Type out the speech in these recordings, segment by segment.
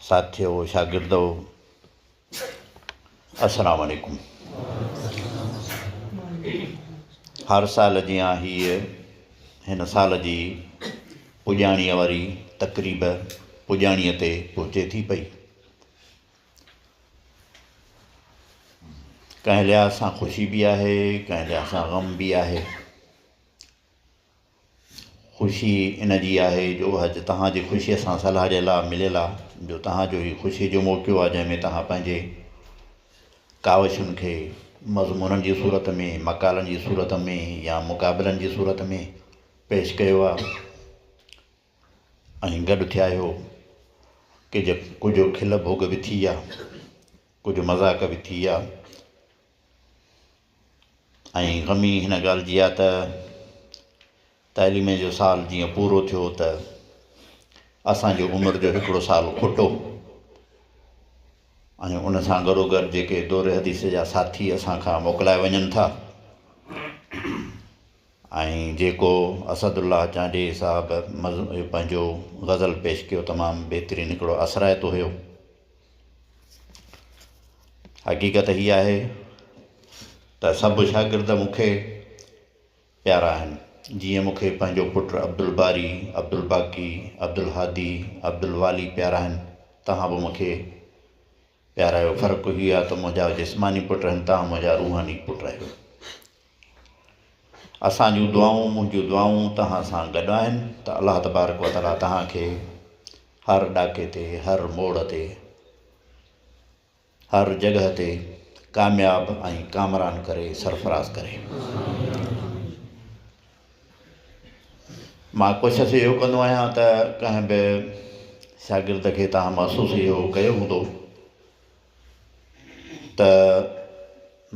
ساٿيو شاگردو السلام عليڪم هر سال جيان هيء هن سال جي پڄاڻيء واري تقريب پڄاڻيء تي پهچي ٿي پئي ڪنهن لحاظ سان خوشي به آهي ڪنهن لحاظ سان غم به آهي خوشي ان جي آهي جو اڄ توهان جي خوشيء سان صلاح ڏيڻ لاء مليل آ جو توهان جو هي خوشيء جو موقعو آ جنهن ۾ توهان پنهنجي ڪاوشن کي مضمونن جي صورت ۾ مقالن جي صورت ۾ يا مقابلن جي صورت ۾ پيش ڪيو آ ۽ گڏ ٿيا آهيو ڪج ڪجهه کل ڀوڳ به ٿي آ ڪجهه مذاق به ٿي آ ۽ غمي هن ڳالهه جي آ ته تعليم جو سال جيئن پورو ٿيو ته اسان جي عمر جو هڪڙو سال کوٽو ۽ ان سان گڏوگڏ جيڪي دور حديث جا ساٿي اسان کان موڪلائي وڃن ٿا ۽ جيڪو اسد الله چانڊيي صاحب پنهنجو غزل پيش ڪيو تمام بهترين هڪڙو اثرائتو هيو حقيقت هي آهي ته سڀ شاگرد مون کي پيارا آهن، جيئن مون کي پنهنجو پٽ عبدالباري، عبدالباقي، عبدالهادي، عبدالوالي پيارا آهن، توهان به مون کي پيارايو، فرق هي آهي ته منهنجا جسماني پٽ آهن، توهان منهنجا روحاني پٽ آهيو. اسان جون دعائون منهنجون دعائون توهان سان گڏ آهن ته الله تبارڪ و تعالي توهان کي هر ڏاڪي تي هر موڙ تي هر جڳهه تي ڪامياب ۽ ڪامران ڪري سرفراز ڪري مان ڪوشش اهو ڪندو آهيان ته ڪنهن به شاگرد کي تهان محسوس اهو ڪيو هوندو ته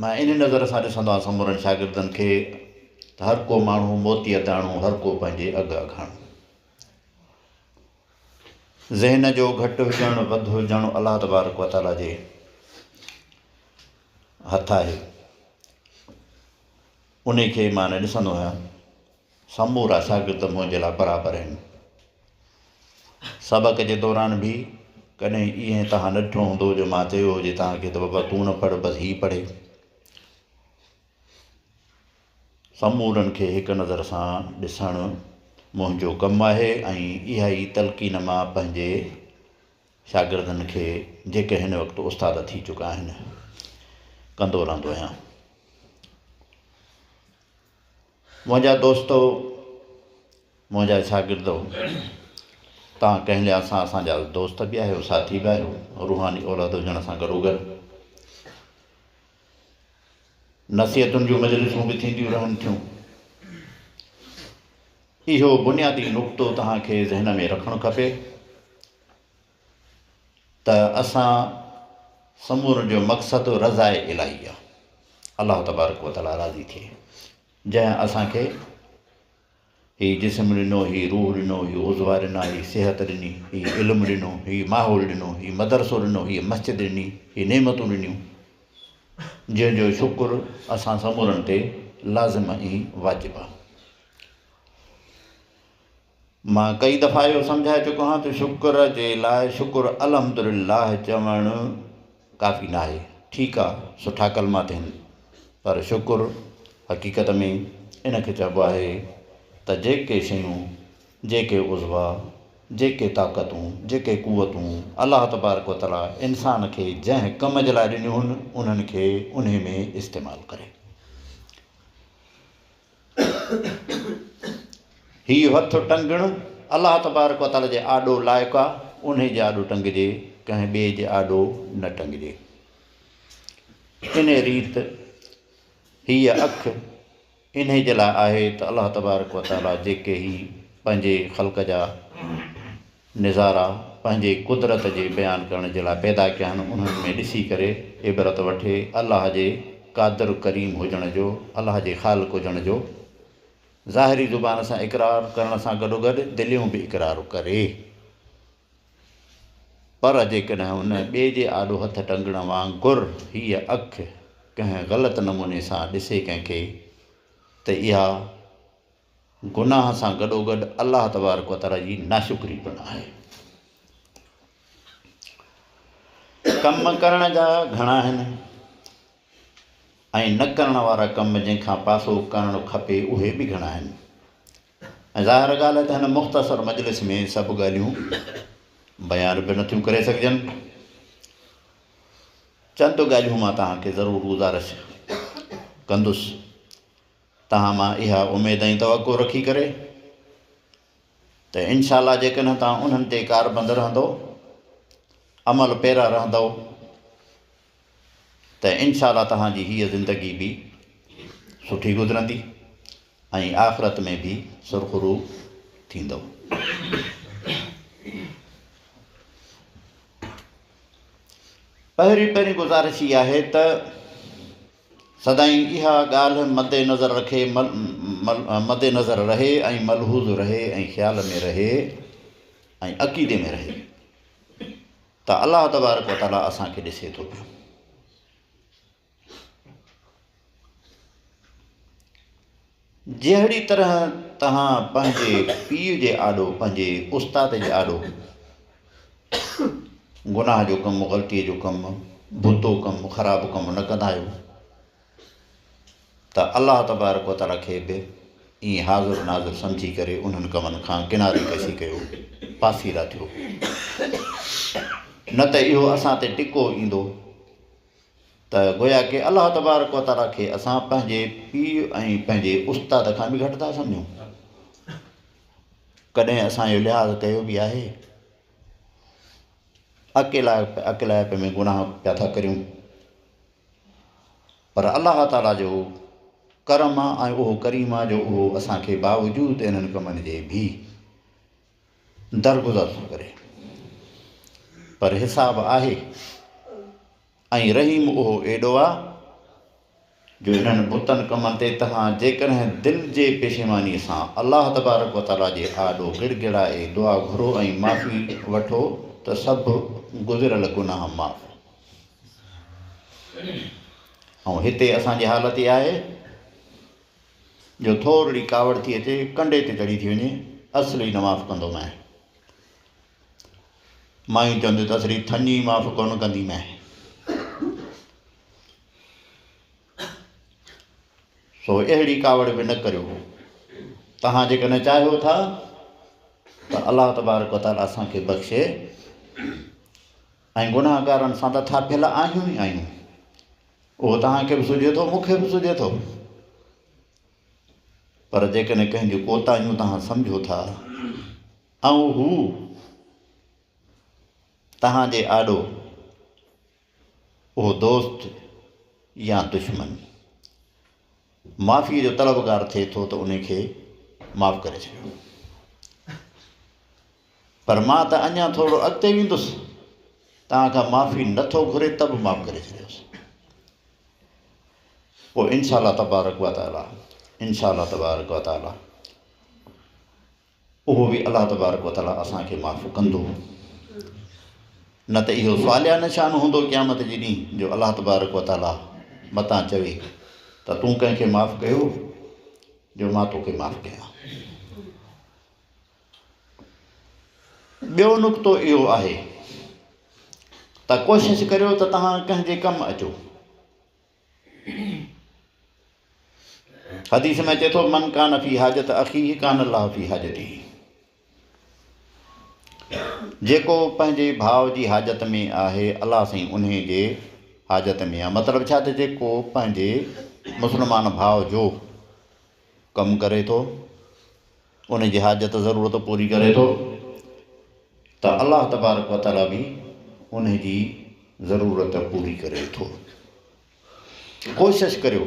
مان ان نظر سان ڏسندو آهيان سمورن شاگردن کي ته هر ڪو ماڻهو موتيء داڻو هر ڪو پنهنجي اگهه اگهاڻو ذهن جو گهٽ هجڻ وڌ هجڻ الله تبارڪ و تعاليٰ جي هٿ آهي ان کي مان نه ڏسندو آهيان سمورا شاگرد منهنجي لاء برابر آهن. سبق جي دوران به ڪڏهن ائين توهان نه ڏٺو هوندو جو مان چيو هجي توهان کي ته بابا تون نه پڙهه بس هي پڙهي. سمورن کي هڪ نظر سان ڏسڻ منهنجو ڪم آهي ۽ اها ئي تلقين مان پنهنجي شاگردن کي جيڪي هن وقت استاد ٿي چڪا آهن ڪندو رهندو آهيان. منهنجا دوستو، منهنجا شاگردو، توهان ڪنهن لحاظ سان اسان جا دوست به آهيو، ساٿي به آهيو، روحاني اولاد هجڻ سان گڏوگڏ نصيحتن جون مجلسون به ٿينديون رهن ٿيون. اهو بنيادي نقطو توهان کي ذهن ۾ رکڻ کپي. ته اسان سمورن جو مقصد رضاء الاھي آ، الله تبارڪ و تعالي راضي ٿئي، جنهن اسان کي هي جسم ڏنو، هي روح ڏنو، هي عضوا ڏنا، هي صحت ڏني، هي علم ڏنو، هي ماحول ڏنو، هي مدرسو ڏنو، هيء مسجد ڏني، هي نعمتون ڏنيون، جنهن جو شڪر اسان سمورن تي لازم ۽ واجب آ. مان ڪئي دفعا اهو سمجهائي چڪو آهيان ته شڪر جي لاء شڪر الحمد لله چوڻ ڪافي ناهي ٺيڪ آهي سٺا ڪلما ٿين پر شڪر حقيقت ۾ ان کي چئبو آهي ته جيڪي شيون جيڪي عضوا جيڪي طاقتون جيڪي قوتون الله تبارڪ و تعالي انسان کي جنهن ڪم جي لاء ڏنيون هن انهن کي انهي ۾ استعمال ڪري. هي هٿ ٽنگڻ الله تبارڪ و تعاليٰ جي آڏو لائق آ، انهي جي آڏو ٽنگجي، ڪنهن ٻئي جي آڏو نه ٽنگجي. انهي ريت هيء اک انهي جي لاء آهي ته الله تبارڪ و تعاليٰ جيڪي هي پنهنجي خلق جا نظارا پنهنجي قدرت جي بيان ڪرڻ جي لاء پيدا ڪيا آهن انهن ۾ ڏسي ڪري عبرت وٺي الله جي قادر ڪريم هجڻ جو الله جي خالق هجڻ جو ظاهري زبان سان اقرار ڪرڻ سان گڏوگڏ دليون به اقرار ڪري پر جيڪڏهن ان ٻئي جي آڏو هٿ ٽنگڻ وانگر هيء اک ڪنهن غلط نموني سان ڏسي ڪنهن کي ته اها گناهه سان گڏوگڏ الله تبارڪ و تعالي جي ناشڪري پڻ آهي. ڪم ڪرڻ جا گهڻا آهن ۽ نه ڪرڻ وارا ڪم جنهن کان پاسو ڪرڻ کپي اهي به گهڻا آهن ۽ ظاهر ڳالهه آهي ته هن مختصر مجلس ۾ سڀ ڳالهيون بيان به نٿيون ڪري سگهجن. چند ڳالهيون مان توهان کي ضرور گذارش ڪندس. توهان مان اها اميد ۽ توقع رکي ڪري ته ان شاء الله جيڪڏهن توهان انهن تي ڪاربند رهندو، عمل پيرا رهندؤ ته ان شاء الله توهان جي هيء زندگي به سٺي گذرندي ۽ آخرت ۾ به سرخرو ٿيندؤ. پهرين پهرين گذارش هي آهي ته. سدائين اها ڳالهه مد نظر رکي مد نظر رهي ۽ ملحوظ رهي ۽ خيال ۾ رهي ۽ عقيدي ۾ رهي ته الله تبارڪ و تعالي اسان کي ڏسي ٿو پيو جهڙي طرح توهان پنهنجي پيء جي آڏو، پنهنجي استاد جي آڏو گناهه جو ڪم، غلطيء جو ڪم، بتو ڪم، خراب ڪم نه ڪندا آهيو ته الله تبارڪ و تعاليٰ کي به ائين حاضر ناظر سمجهي ڪري انهن ڪمن کان ڪناري ڪشي ڪيو، پاسيرا ٿيو. نه ته اهو اسان تي ٽڪو ايندو. ته گويا ڪي الله تبارڪ و تعاليٰ کي اسان پنهنجي پيء ۽ پنهنجي استاد کان به گهٽ ٿا سمجهون. ڪڏهن اسان اهو لحاظ ڪيو به آهي؟ اڪيلائپ اڪيلائپ ۾ گناهه پيا ٿا ڪريون. پر الله تعاليٰ جو ڪرم آهي ۽ اهو ڪريم آهي جو اهو اسان کي باوجود انهن ڪمن جي به درگذر ٿو ڪري پر حساب آهي ۽ رحيم اهو ايڏو آ جو انهن بتن ڪمن تي توهان جيڪڏهن دل جي پشيماني سان الله تبارڪ و تعاليٰ جي آڏو گڙ گڙائي دعا گهرو ۽ معافي وٺو ته سڀ گذريل گناهه معاف ۽ هتي اسان جي حالت اها آهي جو ٿورڙي ڪاوڙ ٿي اچي ڪنڊي تي چڙهي ٿي وڃي اصلي نه معاف ڪندو مئي مائين چونديون ته اصلي ٿڃي معاف ڪونه ڪندي مئي سو اهڙي ڪاوڙ به نه ڪريو تهان جيڪڏهن چاهيو ٿا ته الله تبارڪ وتعاليٰ اسان کي بخشي ۽ گناهگارن سان ته ٿاڦيل آهيون ئي آهيون اهو توهان کي به سجهي ٿو، مون کي به سجهي ٿو. پر جيڪڏهن ڪنهن جون ڪوتاهيون توهان سمجهو ٿا ۽ هو توهان جي آڏو اهو دوست يا دشمن معافيء جو طلبگار ٿئي ٿو ته ان کي معاف ڪري ڇڏيو. پر مان ته اڃا ٿورڙو اڳتي ويندس، توهان کان معافي نه ٿو گهري ته به معاف ڪري ڇڏيوس. پوء ان شاء الله تبارڪ و تعاليٰ ان شاء الله تبارڪ و تعاليٰ اهو به الله تبارڪ و تعاليٰ اسان کي معاف ڪندو. نه ته اهو صالح نشان هوندو قيامت جي ڏينهن جو الله تبارڪ و تعاليٰ متان چوي ته تون ڪنهن کي معاف ڪيو جو مان توکي معاف ڪيان. ٻيو نقطو اهو آهي ته ڪوشش ڪريو ته توهان ڪنهن جي ڪم اچو. حديث ۾ اچي ٿو من ڪان في حاجت اخيه ڪان الله في حاجته جيڪو پنهنجي ڀاء جي حاجت ۾ آهي الله سائين انهي جي حاجت ۾ آهي مطلب ڇا ته جيڪو پنهنجي مسلمان ڀاء جو ڪم ڪري ٿو ان جي حاجت ضرورت پوري ڪري ٿو ته الله تبارڪ و تعالي به ان جي ضرورت پوري ڪري ٿو ڪوشش ڪريو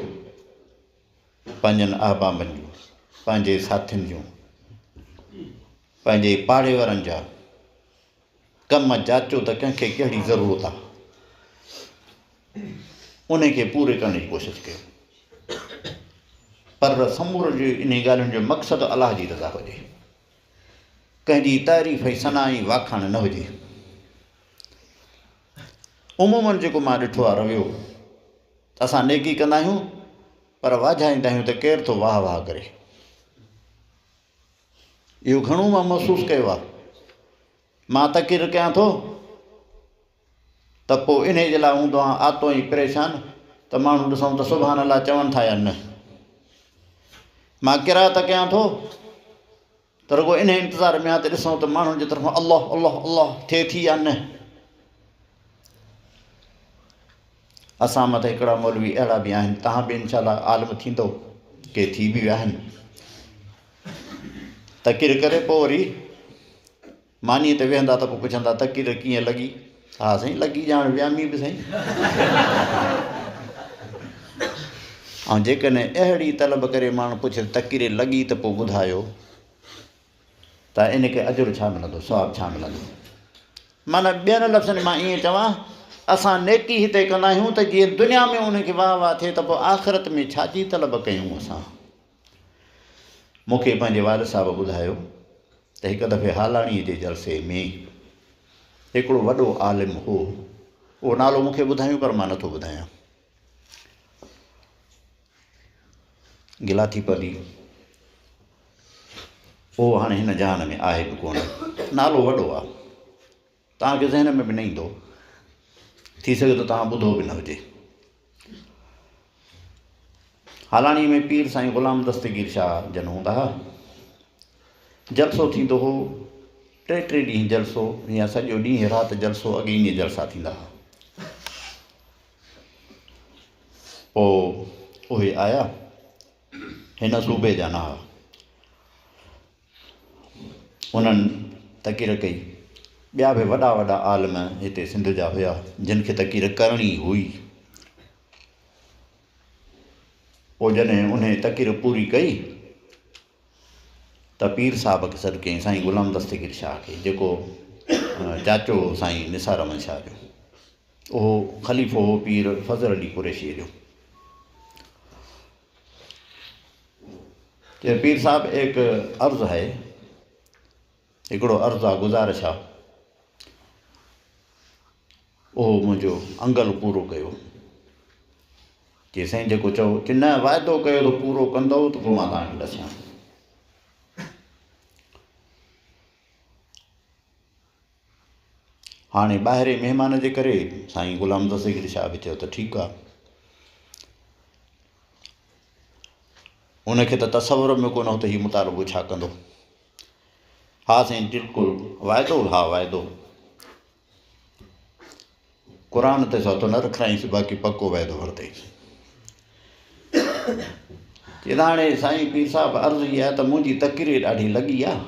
پنهنجن احبابن جون پنهنجي ساٿين جون پنهنجي پاڙي وارن جا ڪم جاچو ته ڪنهن کي ڪهڙي ضرورت آ انهي کي پوري ڪرڻ جي ڪوشش ڪيو پر سمورن جي انهي ڳالهين جو مقصد الله جي رضا هجي ڪنهن جي تعريف ۽ ثنا ۽ واکاڻ نه هجي عمومن جيڪو مان ڏٺو آ رويو اسان نيڪي ڪندا آهيون پر واجهائيندا آهيون ته ڪير ٿو واه واه ڪري اهو گهڻو مان محسوس ڪيو آهي. مان تقرير ڪيان ٿو ته پوء انهيء جي لاء هوندو آهان آتو ۽ پريشان ته ماڻهو ڏسون ته سبحان الله چون ٿا يا نه. مان قرائت ڪيان ٿو ته رڳو انهيء انتظار ۾ آهان ته ڏسون ته ماڻهن جي طرفان الله الله الله ٿئي ٿي يا نه. اسان مان ته هڪڙا مولوي اهڙا به آهن تهان به انشاء الله عالم ٿيندو ڪي ٿي به ويا آهن تقرير ڪري پوء وري مانيء تي ويهندا ته پوء پڇندا تقرير ڪيئن لڳي ها سائين لڳي ڄاڻ ويامي به سائين ۽ جيڪڏهن اهڙي طلب ڪري ماڻهو پڇي تقرير لڳي ته پوء ٻڌايو ته ان کي اجر ڇا ملندو، ثواب ڇا ملندو؟ معنيٰ ٻين لفظن ۾ مان ائين چوان، اسان نيڪي هتي ڪندا آهيون ته جيئن دنيا ۾ ان کي واهه واهه ٿئي ته پوء آخرت ۾ ڇا جي طلب ڪيون اسان؟ مون کي پنهنجي والد صاحب ٻڌايو ته هڪ دفعي هالاڻيء جي جلسي ۾ هڪڙو وڏو عالم هو، اهو نالو مون کي ٻڌايون پر مان نٿو ٻڌايان. گلا ٿي پوي او هاڻي هن جهان ۾ آهي به ڪونه نالو وڏو آ توهان کي ذهن ۾ به نه ايندو ٿي سگهي ٿو توهان ٻڌو به نه هجي هالاڻي ۾ پير سائين غلام دستگير شاهه جن هوندا ها جلسو ٿيندو هو ٽي ٽي ڏينهن جلسو يا سڄو ڏينهن رات جلسو اڳي ائين جلسا ٿيندا ها پوء اهي آيا هن صوبي جا نه ها. انهن تقرير ڪئي. ٻيا به وڏا وڏا عالم هتي سنڌ جا هيا جن کي تقرير ڪرڻي هئي. پوء جڏهن انهي تقرير پوري ڪئي ته پير صاحب کي سڏ ڪيائين سائين غلام دستگير شاهه کي جيڪو چاچو هو سائين نثار احمد شاهه جو اهو خليفو هو پير فضل علي قريشيء جو چي پير صاحب ايڪ عرض هي هڪڙو عرض آ گزارش آ اهو منهنجو انگل پورو ڪيو. چي سائين جيڪو چئو. چي نه واعدو ڪيو ته پورو ڪندئو ته پوء مان توهان کي ڏسيان ٿو. هاڻي ٻاهرين مهمان جي ڪري سائين غلام دستگير شاهه به چيو ته ٺيڪ آ. ان کي ته تصور ۾ ڪونه هو ته هي مطالبو ڇا ڪندو. ها سائين بلڪل واعدو ها واعدو. قرآن تي سوتو نه رکرائينس باقي پڪو وعدو ورتئيس. چي هاڻي سائين پير صاحب عرض هي آهي ته منهنجي تقرير ڏاڍي لڳي آهي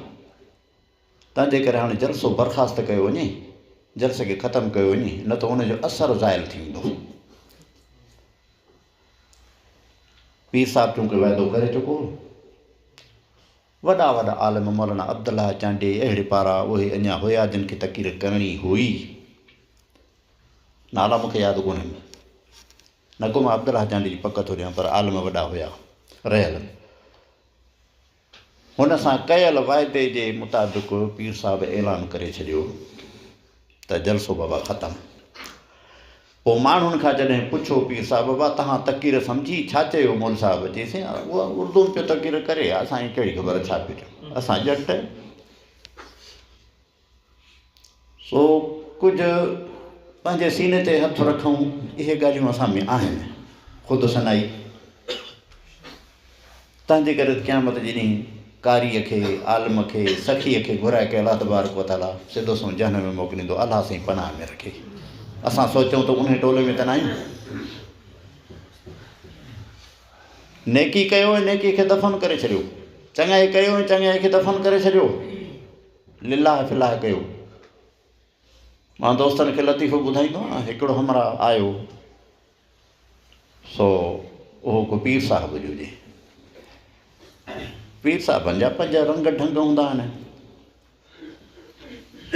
تنهن جي ڪري هاڻي جلسو برخاست ڪيو وڃي جلسي کي ختم ڪيو وڃي نه ته ان جو اثر زائل ٿي ويندو پير صاحب چونڪه وعدو ڪري چڪو وڏا وڏا عالم مولانا عبدالله چانڊيي اهڙي پارا اهي اڃا هيا جن کي تقرير ڪرڻي هئي. نالا مون کي ياد ڪونهن. نه ڪو مان عبدالله چانڊيي جي پڪ ٿو ڏيان پر عالم وڏا هيا. رهيل. هن سان ڪيل واعدي جي مطابق پير صاحب اعلان ڪري ڇڏيو. ته جلسو بابا ختم. پوء ماڻهن کان جڏهن پڇيو پير صاحب بابا تهان تقرير سمجهي ڇا چيو مول صاحب؟ چيسين اها اردو ۾ پيو تقرير ڪري اسان کي ڪهڙي خبر ڇا پيو چئي اسان ڄٽ. سو ڪجهه پنهنجي سيني تي هٿ رکون اهي ڳالهيون اسان ۾ آهن خود سنائي. تنهن جي ڪري قيامت جي ڏينهن قاريء کي، عالم کي، سخيء کي گهرائي ڪري الله تبارڪ و تعاليٰ سڌو سنئون جهنم ۾ موڪليندو. الله سائين پناهه ۾ رکي. اسان سوچون ته انهي ٽولي ۾ ته ناهيون. نيڪي ڪيو ۽ نيڪي کي دفن ڪري ڇڏيو. چڱائي ڪيو ۽ چڱائي کي دفن ڪري ڇڏيو. لله في الله ڪيو. مان دوستن کي لطيفو ٻڌائيندو آهيان. هڪڙو همراهه آيو. سو اهو ڪو پير صاحب جو هجي. پير صاحبن جا پنهنجا رنگ ڍنگ هوندا آهن.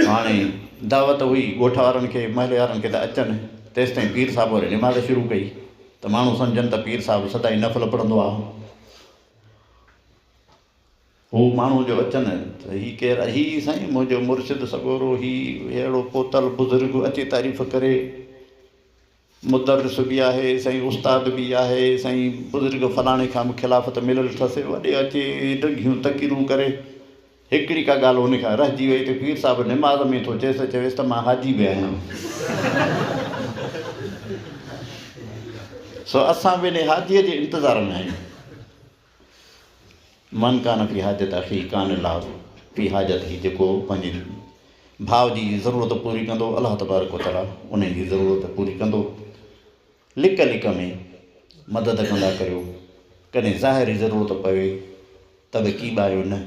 هاڻي دعوت هئي ڳوٺ وارن کي محلي وارن کي ته اچن تيستائين پير صاحب وري نماز شروع ڪئي ته ماڻهو سمجهن ته پير صاحب سدائين نفل پڙهندو آهو. هو ماڻهو جو اچن ته هي ڪير آهي؟ هي سائين منهنجو مرشد سڳورو هي اهڙو پوتل بزرگ اچي تعريف ڪري. مدرس به آهي سائين استاد به آهي سائين بزرگ فلاڻي کان به خلافت مليل اٿس وڏي اچي ڊگهيون تقريرون ڪري هڪڙي ڪا ڳالهه ان کان رهجي وئي ته پير صاحب نماز ۾ ٿو چيس چويس ته مان حاجي به آهيان سو اسان به ان حاجي جي انتظار ۾ آهيون. من ڪان في حاجت اخي ڪان الله في حاجته جيڪو پنهنجي ڀاء جي ضرورت پوري ڪندو الله تبارڪ و تعالي انهي جي ضرورت پوري ڪندو لڪ لڪ ۾ مدد ڪندا ڪريو ڪڏهن ظاهري ضرورت پوي ته به ڪي ٻايو نه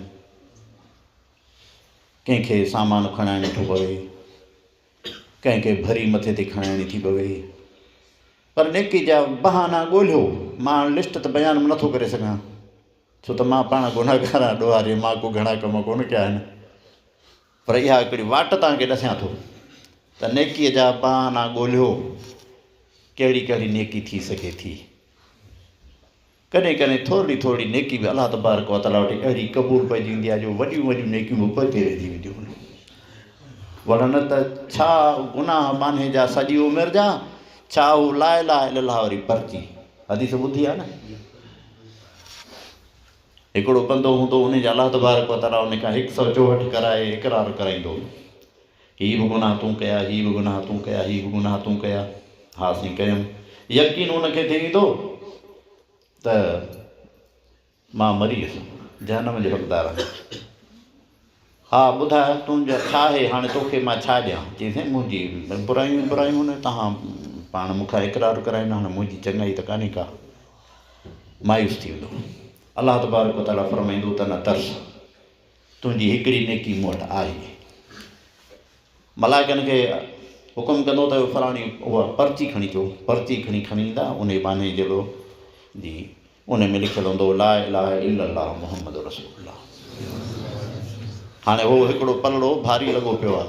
ڪنهن کي سامان کڻائڻ ٿو پوي ڪنهن کي ڀري مٿي تي کڻائڻي ٿي پوي پر نيڪي جا بهانا ڳولهيو مان هاڻ لسٽ ته بيان به نٿو ڪري سگهان ڇو ته مان پاڻ گنهگار آهيان ڏوهاري مان ڪو گهڻا ڪم ڪونه ڪيا آهن پر اها هڪڙي واٽ توهان کي ڏسيان ٿو ته نيڪي جا بهانا ڳولهيو ڪهڙي ڪهڙي نيڪي ٿي سگهي ٿي ڪڏهن ڪڏهن ٿورڙي ٿورڙي نيڪي به الله تبارڪ و تعاليٰ وٽ اهڙي قبول پئجي ويندي آهي جو وڏيون وڏيون نيڪيون به پوئتي رهجي وينديون آهن ورنه نه ته ڇا گناهه ٻانهي جا سڄي عمر جا ڇا هو لا اله الا الله وري پرچي حديث ٻڌي آهي نه هڪڙو بندو هوندو ان جا الله تبارڪ و تعاليٰ ان کان هڪ سؤ چوهٺ ڪرائي اقرار ڪرائيندو هي به گناهه تون ڪيا، هي به گناهه تون ڪيا، هي به گناهه تون ڪيا. ها سائين ڪيم. يقين ان کي ٿي ويندو ته مان مري ويس جهنم جو حقدار آهيان. ها ٻڌاء تنهنجو ڇا آهي هاڻي توکي مان ڇا ڏيان؟ چيس سائين منهنجي برايون ئي برايون آهن توهان پاڻ مون کان اقرار ڪرائيندا هاڻي منهنجي چڱائي ته ڪانهي ڪا. مايوس ٿي ويندو. الله تبارڪ وتعاليٰ فرمائيندو ته نه ترس. تنهنجي هڪڙي نيڪي مون وٽ آهي. ملائڪن کي حڪم ڪندو ته فلاڻي اها پرچي کڻي اچو. پرچي کڻي کڻي ايندا، انهي ٻانهي جهڙو جي انهي ۾ لکيل هوندو هو لا اله الا الله محمد رسول الله. هاڻي هو هڪڙو پلڙو ڀاري لڳو پيو آ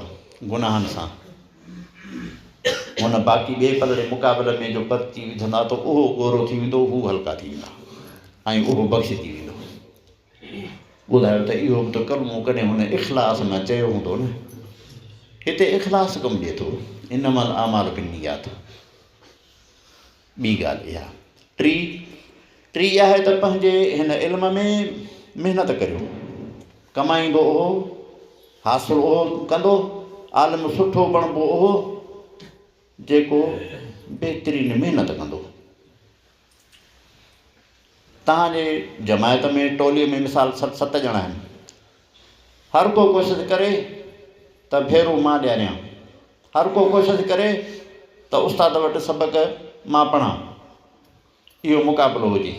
گناهن سان. هن باقي ٻئي پلڙي مقابل ۾ جو پرچي وجهندا ته اهو ڳورو ٿي ويندو، هو هلڪا ٿي ويندا ۽ اهو بخشجي ويندو. ٻڌايو ته اهو به ته ڪلمو ڪڏهن هن اخلاص نه چيو هوندو نه؟ هتي اخلاص ڪم ڏئي ٿو، انما الاعمال بالنيات. ٻي ڳالهه اها. ٽي ٽي اها آهي ته پنهنجي هن علم ۾ محنت ڪريو، ڪمائيندو اهو، حاصل اهو ڪندو، عالم سٺو بڻبو اهو جيڪو بهترين محنت ڪندو. توهان جي جماعت ۾ ٽولي ۾ مثال ست ست ڄڻا آهن. هر ڪو ڪوشش ڪري ته ڀيرو مان ڏياريان. هر ڪو ڪوشش ڪري ته استاد وٽ سبق مان پڙهان. اهو مقابلو هجي.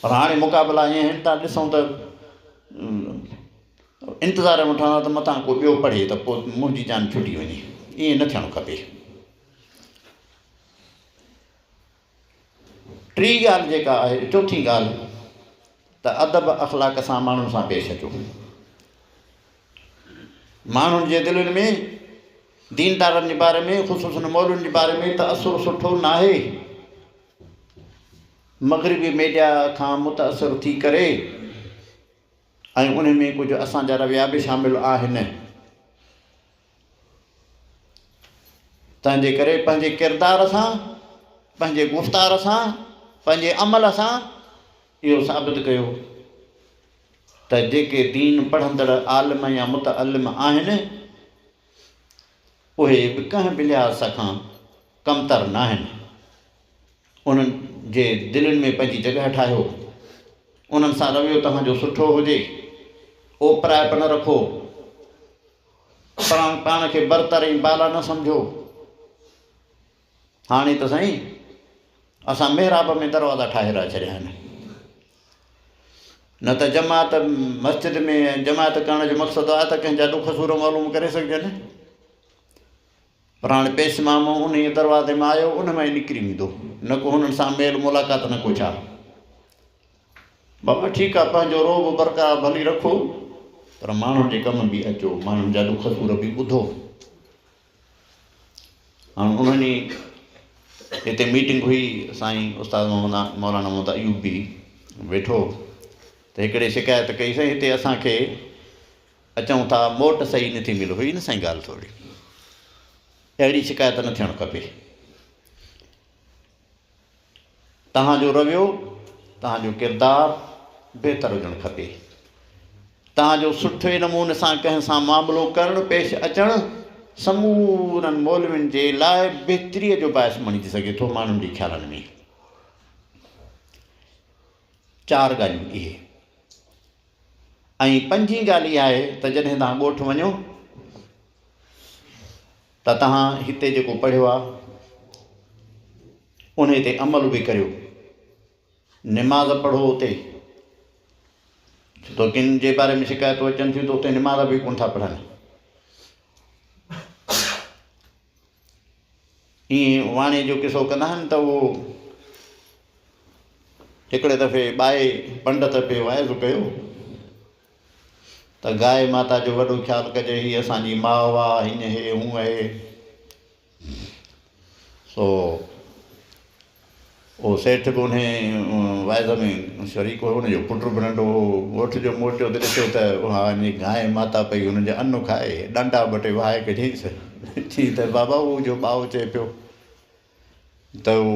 پر هاڻي مقابلا ائين آهن ته ڏسون ته انتظار ۾ وٺان ها ته متان ڪو ٻيو پڙهي ته پوء منهنجي جان ڇٽي وڃي ائين نه ٿيڻ کپي ٽي ڳالهه جيڪا آهي چوٿين ڳالهه ته ادب اخلاق سان ماڻهن سان پيش اچو ماڻهن جي دلين ۾ ديندارن جي باري ۾ خصوصن مولن جي باري ۾ ته اثر سٺو ناهي مغربي ميڊيا کان متاثر ٿي ڪري ۽ انهي ۾ ڪجهه اسان جا رويا به شامل آهن تنهنجي ڪري پنهنجي ڪردار سان پنهنجي گفتار سان پنهنجي عمل سان اهو ثابت ڪيو ته جيڪي دين پڙهندڙ عالم يا متعلم آهن اهي به ڪنهن به لحاظ کان ڪمتر ناهن. انهن جي دلين ۾ پنهنجي جڳهه ٺاهيو. انهن سان رويو توهان جو سٺو هجي. اوپرائپ نه رکو. پاڻ کي برتر ۽ بالا نه سمجهو. هاڻي ته سائين اسان محراب ۾ دروازا ٺاهي رها ڇڏيا آهن نه ته جماعت مسجد ۾ جماعت ڪرڻ جو مقصد آهي ته ڪنهن جا ڏک سور معلوم ڪري سگهجن پر هاڻي پيش مامو ان ئي دروازي ۾ آيو ان ۾ نڪري ويندو نه کو هنن سان ميل ملاقات نه کو ڇا بابا ٺيڪ آهي پنهنجو روب برقرار ڀلي رکو پر ماڻهن جي ڪم به اچو ماڻهن جا ڏک سور به ٻڌو هاڻ انهن جي هتي ميٽنگ هئي سائين استاد محمد مولانا محمد ايوب به ويٺو ته هڪڙي شڪايت ڪئي سائين هتي اسان کي اچون ٿا موٽ صحيح نه ٿي ملي هئي نه سائين ڳالهه ٿوري اهڙي شڪايت نه ٿيڻ کپي توهان جو رويو، توهان جو ڪردار بهتر هجڻ کپي. توهان جو سٺي نموني سان ڪنهن سان معاملو ڪرڻ، پيش اچڻ سمورن مولوين جي لاء بهتريء جو باعث بڻجي سگهي ٿو. ماڻهن جي خيالن ۾ چار ڳالهيون اهي ۽ پنجين ڳالهه اها آهي ته جڏهن توهان ڳوٺ وڃو، ته توهان هتي جيڪو پڙهيو آهي انهي تي عمل به ڪريو. نماز پڙهو اتي ڇو ته ڪن جي باري ۾ شڪايتون اچن ٿيون ته اتي نماز به ڪونه ٿا پڙهن. ائين واڻي جو قصو ڪندا آهن ته اهو هڪڙي دفعي ٻائي پنڊت پي واعظ ڪيو. ته گائي ماتا جو وڏو خيال ڪجي، هيء اسان جي ماء آ، هينئن هي، هونئن هي. سو اهو سيٺ به انهيء واعظ ۾ شريڪ هو، ان جو پٽ به ننڍو هو. ڳوٺ جو موٽيو ته ڏٺو ته اها اڃي گائي ماتا پئي هن جا ان کائي، ڏنڊا ٻه ٽي وهائي ڪڍيائينس، چيائين ته، بابا اهو جو ٻائو چئي پيو، ته هو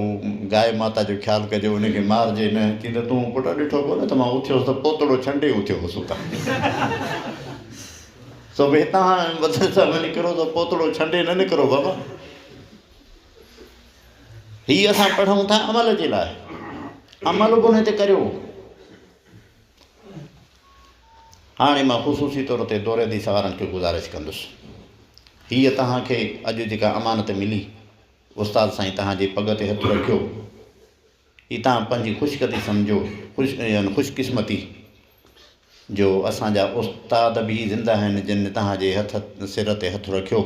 گائي ماتا جو خيال ڪجي، ان کي مارجي نه. چي ته تون پٽ ڏٺو ڪو نه ته مان اٿيو هوس ته پوتڙو ڇنڊي اٿيو هوس اتان. سو به هتان هاڻي بدر صاحب نڪرو ته پوتڙو ڇنڊي نه نڪرو بابا. هي اسان پڙهون ٿا عمل جي لاء. عمل به ان تي ڪريو. هاڻي مان خصوصي طور تي دوريدي سوارن کي گذارش ڪندس. هيء توهان کي اڄ جيڪا امانت ملي، استاد سائين توهان جي پڳ تي هٿ رکيو، هي توهان پنهنجي خوشقدي سمجهو، خوش يعني خوشقسمتي، جو اسان جا استاد به زنده آهن، جن توهان جي هٿ سر تي هٿ رکيو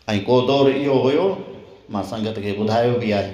۽ ڪو دور اهو هيو، مان سنگت کي ٻڌايو به آهي.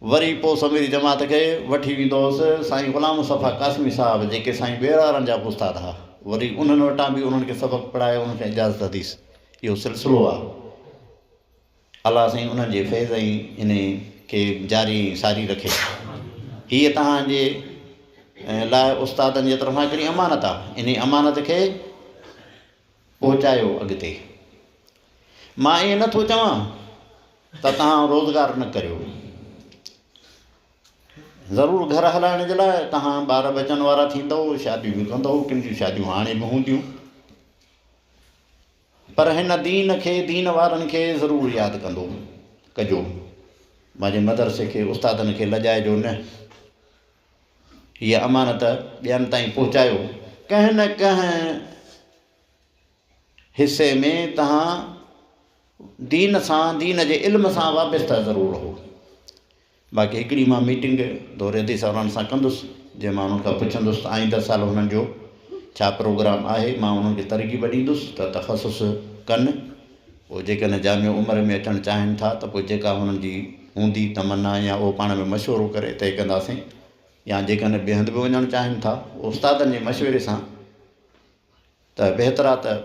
وري پوء سميري جماعت کي وٺي ويندو هوس سائين غلام مصطفيٰ قاسمي صاحب جيڪي سائين ٻيراڙن جا به استاد ها وري انهن وٽان به انهن کي سبق پڙهائي انهن کي اجازت حديث اهو سلسلو آ الله سائين انهن جي فيض ۽ ان کي جاري ۽ ساري رکي هي توهان جي لاء استادن جي طرفان هڪڙي امانت آ انهي امانت کي پهچايو اڳتي مان ايئن نٿو چوان ته توهان روزگار نه ڪريو ضرور گهر هلائڻ جي لاء توهان ٻار ٻچن وارا ٿيندو شاديون به ڪندو ڪن جون شاديون هاڻي به هونديون پر هن دين کي دين وارن کي ضرور ياد ڪندو ڪجو مانجي مدرسي کي استادن کي لڄائجو نه هيء امانت ٻين تائين پهچايو. ڪنهن نه ڪنهن حصي ۾ توهان دين سان، دين جي علم سان وابسته ضرور رهو. باقي هڪڙي مان ميٽنگ دور حديث وارن سان ڪندس، جنهن مان انهن کان پڇندس ته آئنده سال هنن جو ڇا پروگرام آهي. مان انهن کي ترغيب ڏيندس ته تخصص ڪن. پوء جيڪڏهن جامع عمر ۾ اچڻ چاهين ٿا ته پوء جيڪا هنن جي هوندي تمنا يا اهو پاڻ ۾ مشورو ڪري طئي ڪنداسين يا جيڪڏهن ٻئي هنڌ به وڃڻ چاهين ٿا استادن جي مشوري سان ته بهترا ته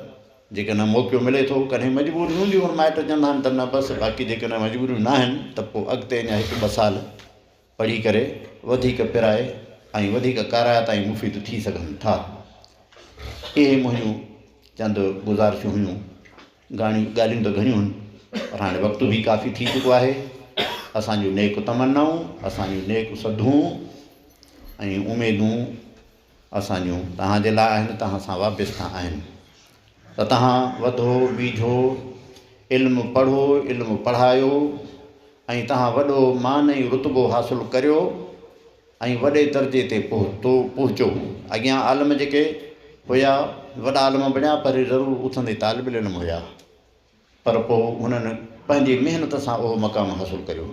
جيڪڏهن موقعو ملي ٿو ڪڏهن مجبوريون هونديون مائٽ چوندا آهن ته نه بس باقي جيڪڏهن مجبوريون ناهن ته پوء اڳتي اڃا هڪ ٻه سال پڙهي ڪري وڌيڪ پرائي ۽ وڌيڪ ڪارايا تائين مفيد ٿي سگهن ٿا. اهي منهنجون چند گذارشون هيون. گاڻيون ڳالهيون ته گهڻيون هن پر هاڻي وقت به ڪافي ٿي چڪو آهي. اسان جون نيڪ تمنائون، اسان جون نيڪ سڌون ۽ اميدون، اسان جون توهان جي لاء آهن توهان سان وابسته آهن ته توهان وڌو ويجهو علم پڙهو علم پڙهايو ۽ توهان وڏو مان ۽ رتبو حاصل ڪريو ۽ وڏي درجي تي پهتو پهچو اڳيان عالم جيڪي هيا وڏا عالم بڻيا پر ضرور اٿندي طالب العلم هيا پر پوء هنن پنهنجي محنت سان اهو مقام حاصل ڪريو.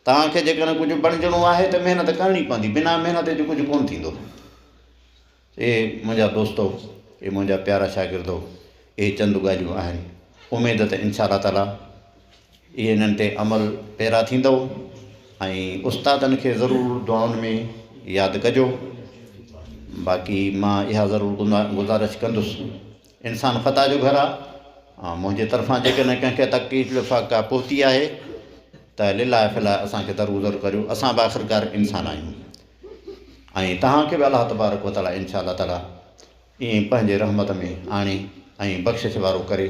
توهان کي جيڪڏهن ڪجهه بڻجڻو آهي ته محنت ڪرڻي پوندي، بنا محنت جي ڪجهه ڪونه ٿيندو. اي منهنجا دوستو، اي منهنجا پيارا شاگردو، اهي چند ڳالهيون آهن، اميد ته انشاء الله تعاليٰ اهي انهن تي عمل پيرا ٿيندؤ ۽ استادن کي ضرور دعائن ۾ ياد ڪجو. باقي مان اها ضرور گذارش ڪندس انسان خطا جو گهر آهي ۽ منهنجي طرفان جيڪڏهن ڪنهن کي تڪليف لفاق ڪا پهتي آهي ته لله في الله اسان کي درگذر ڪريو اسان به آخرڪار انسان آهيون ۽ توهان کي به الله تبارڪ و تعالٰي انشاء الله تعالٰي ائين پنهنجي رحمت ۾ آڻي ۽ بخشش وارو ڪري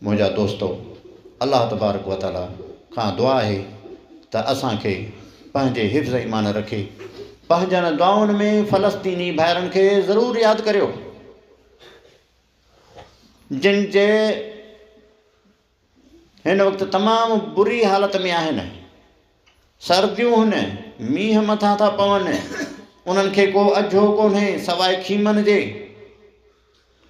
منهنجا دوستو الله تبارڪ و تعالٰي کان دعا آهي ته اسان کي پنهنجي حفظ ايمان رکي پنهنجن دعائن ۾ فلسطيني ڀائرن کي ضرور ياد ڪريو جن جي هن وقت تمام بري حالت ۾ آهن سرديون هن مينهن مٿان ٿا پون انهن کي ڪو اجهو ڪونهي سواء خيمن جي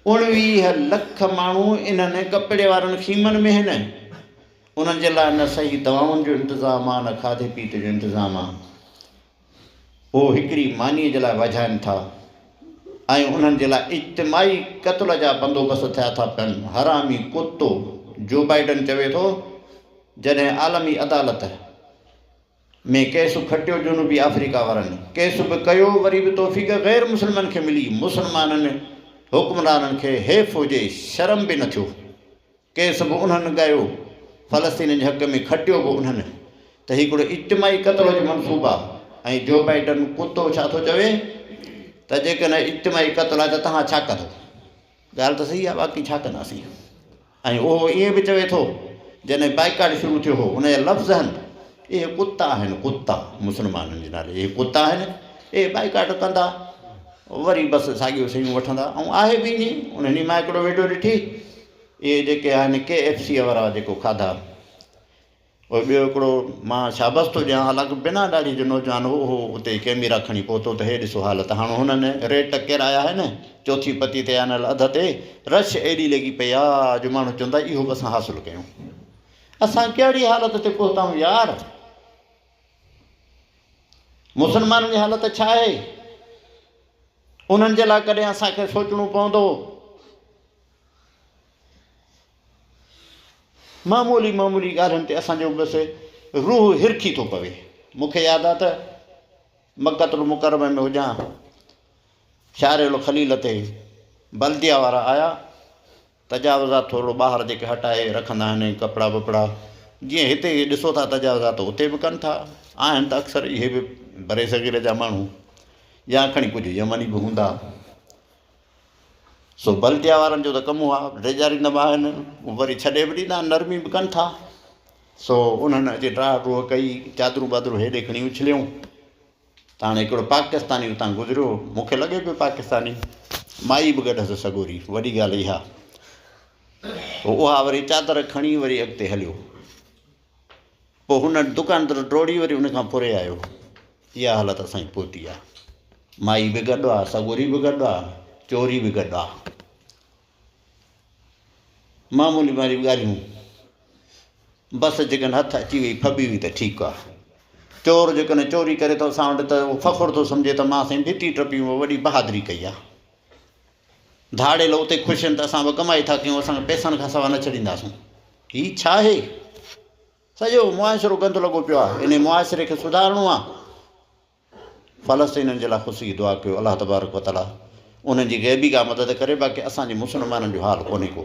اڻويهه لک ماڻهو انهن ڪپڙي وارن خيمن ۾ هن انهن جي لاء نه صحيح دوائن جو انتظام آهي نه کاڌي پيتي جو انتظام آهي هو هڪڙي مانيء جي لاء وجهائن ٿا ۽ انهن جي لاء اجتماعي قتل جا بندوبست ٿيا ٿا پين. حرامي ڪتو جو بائيڊن چوي ٿو جڏهن عالمي عدالت ۾ ڪيس کٽيو جنوبي آفريڪا وارن ڪيس به ڪيو وري به توفيق غير مسلمن کي ملي مسلمانن حڪمرانن کي حيف هجي شرم به نه ٿيو. ڪيس به انهن ڳايو، فلسطينين جي حق ۾ کٽيو به انهن ته هي هڪڙو اجتماعي قتل جو منصوبه آهي ۽ جو بائيڊن ڪتو ڇا ٿو چوي ته جيڪڏهن هي اجتماعي قتل آهي ته توهان ڇا ڪندو؟ ڳالهه ته صحيح آهي واقعي ڇا ڪنداسين ۽ اهو ائين به چوي ٿو جڏهن بائيڪاٽ شروع ٿيو هو ان جا لفظ آهن اهي ڪتا آهن ڪتا مسلمانن جي نالي اهي ڪتا آهن اهي بائيڪاٽ ڪندا وري بس ساڳيو شيون وٺندا ۽ آهي به ائين انهن ئي مان هڪڙو وڊيو ڏٺي اهي جيڪي آهن ڪي ايف سيء وارا جيڪو کاڌا پوء ٻيو هڪڙو مان شابس ٿو ڏيان حالانڪه بنا ڏاڙهي جو نوجوان هو هو اتي ڪيميرا کڻي پهتو ته هي ڏسو حالت هاڻ هنن ريٽ ڪيرايا آهن چوٿين پتي تي آنل اڌ تي رش ايڏي لڳي پئي آ جو ماڻهو چوندا اهو به اسان حاصل ڪيون اسان ڪهڙي حالت تي پهتائون يار مسلمانن جي حالت ڇا آهي انهن جي لاء ڪڏهن اسان کي سوچڻو پوندو معمولي معمولي ڳالهين تي اسان جو بس روح هرکي ٿو پوي. مون کي ياد آهي ته مڪة المڪرمه ۾ هجان شارع الخليل تي بلديه وارا آيا تجاوزات ٿورڙو ٻاهر جيڪي هٽائي رکندا آهن ۽ ڪپڙا ٻپڙا جيئن هتي ڏسو ٿا تجاوزات اتي به ڪن ٿا آهن ته اڪثر اهي به برصغير جا ماڻهو يا کڻي ڪجهه يمني به هوندا سو بلديا وارن جو ته ڪم اهو آهي ڊيڄاريندا به آهن وري ڇڏي به ڏيندا آهن نرمي به ڪن ٿا سو انهن اچي ڊاهه ڊوهه ڪئي چادرون ٻادرون هيڏي کڻي اڇليائون ته هاڻي هڪڙو پاڪستاني اتان گذريو مونکي لڳي پيو پاڪستاني مائي به گڏ هئس سڳوري وڏي ڳالهه اها اها وري چادر کڻي وري اڳتي هليو پوء هن دڪان تر ڊوڙي وري ان کان پري آيو. اها حالت اسان جي پهتي آ. مائي به گڏ آ، سڳوري به گڏ آ، چوري به گڏ آ. معمولي ماري ڳالهيون بس جيڪڏهن هٿ اچي وئي ڦٻي وئي ته ٺيڪ آ. چور جيڪڏهن چوري ڪري ٿو اسان وٽ ته اهو فخر ٿو سمجهي ته مان سائين ڀتي ٽپي وڏي بهادري ڪئي آ. ڌاڙيل اتي خوش آهن ته اسان به ڪمائي ٿا ڪيون اسان کي پئسن کان سوا نه ڇڏينداسون هي ڇا آهي سڄو معاشرو گند لڳو پيو آهي انهي معاشري کي سڌارڻو آهي فلسطينين جي لاء خوشي جي دعا ڪيو الله تبارڪ وتعاليٰ انهن جي غيبي ڪا مدد ڪري باقي اسان جي مسلمانن جو حال ڪونهي ڪو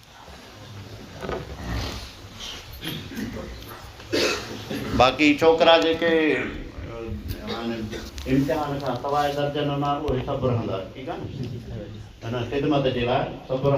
باقي ڇوڪرا جيڪي امتحان کان سواء درجن انا اهي سڀ رهندا ٺيڪ آهي نه خدمت جي لاء سڀ رهندا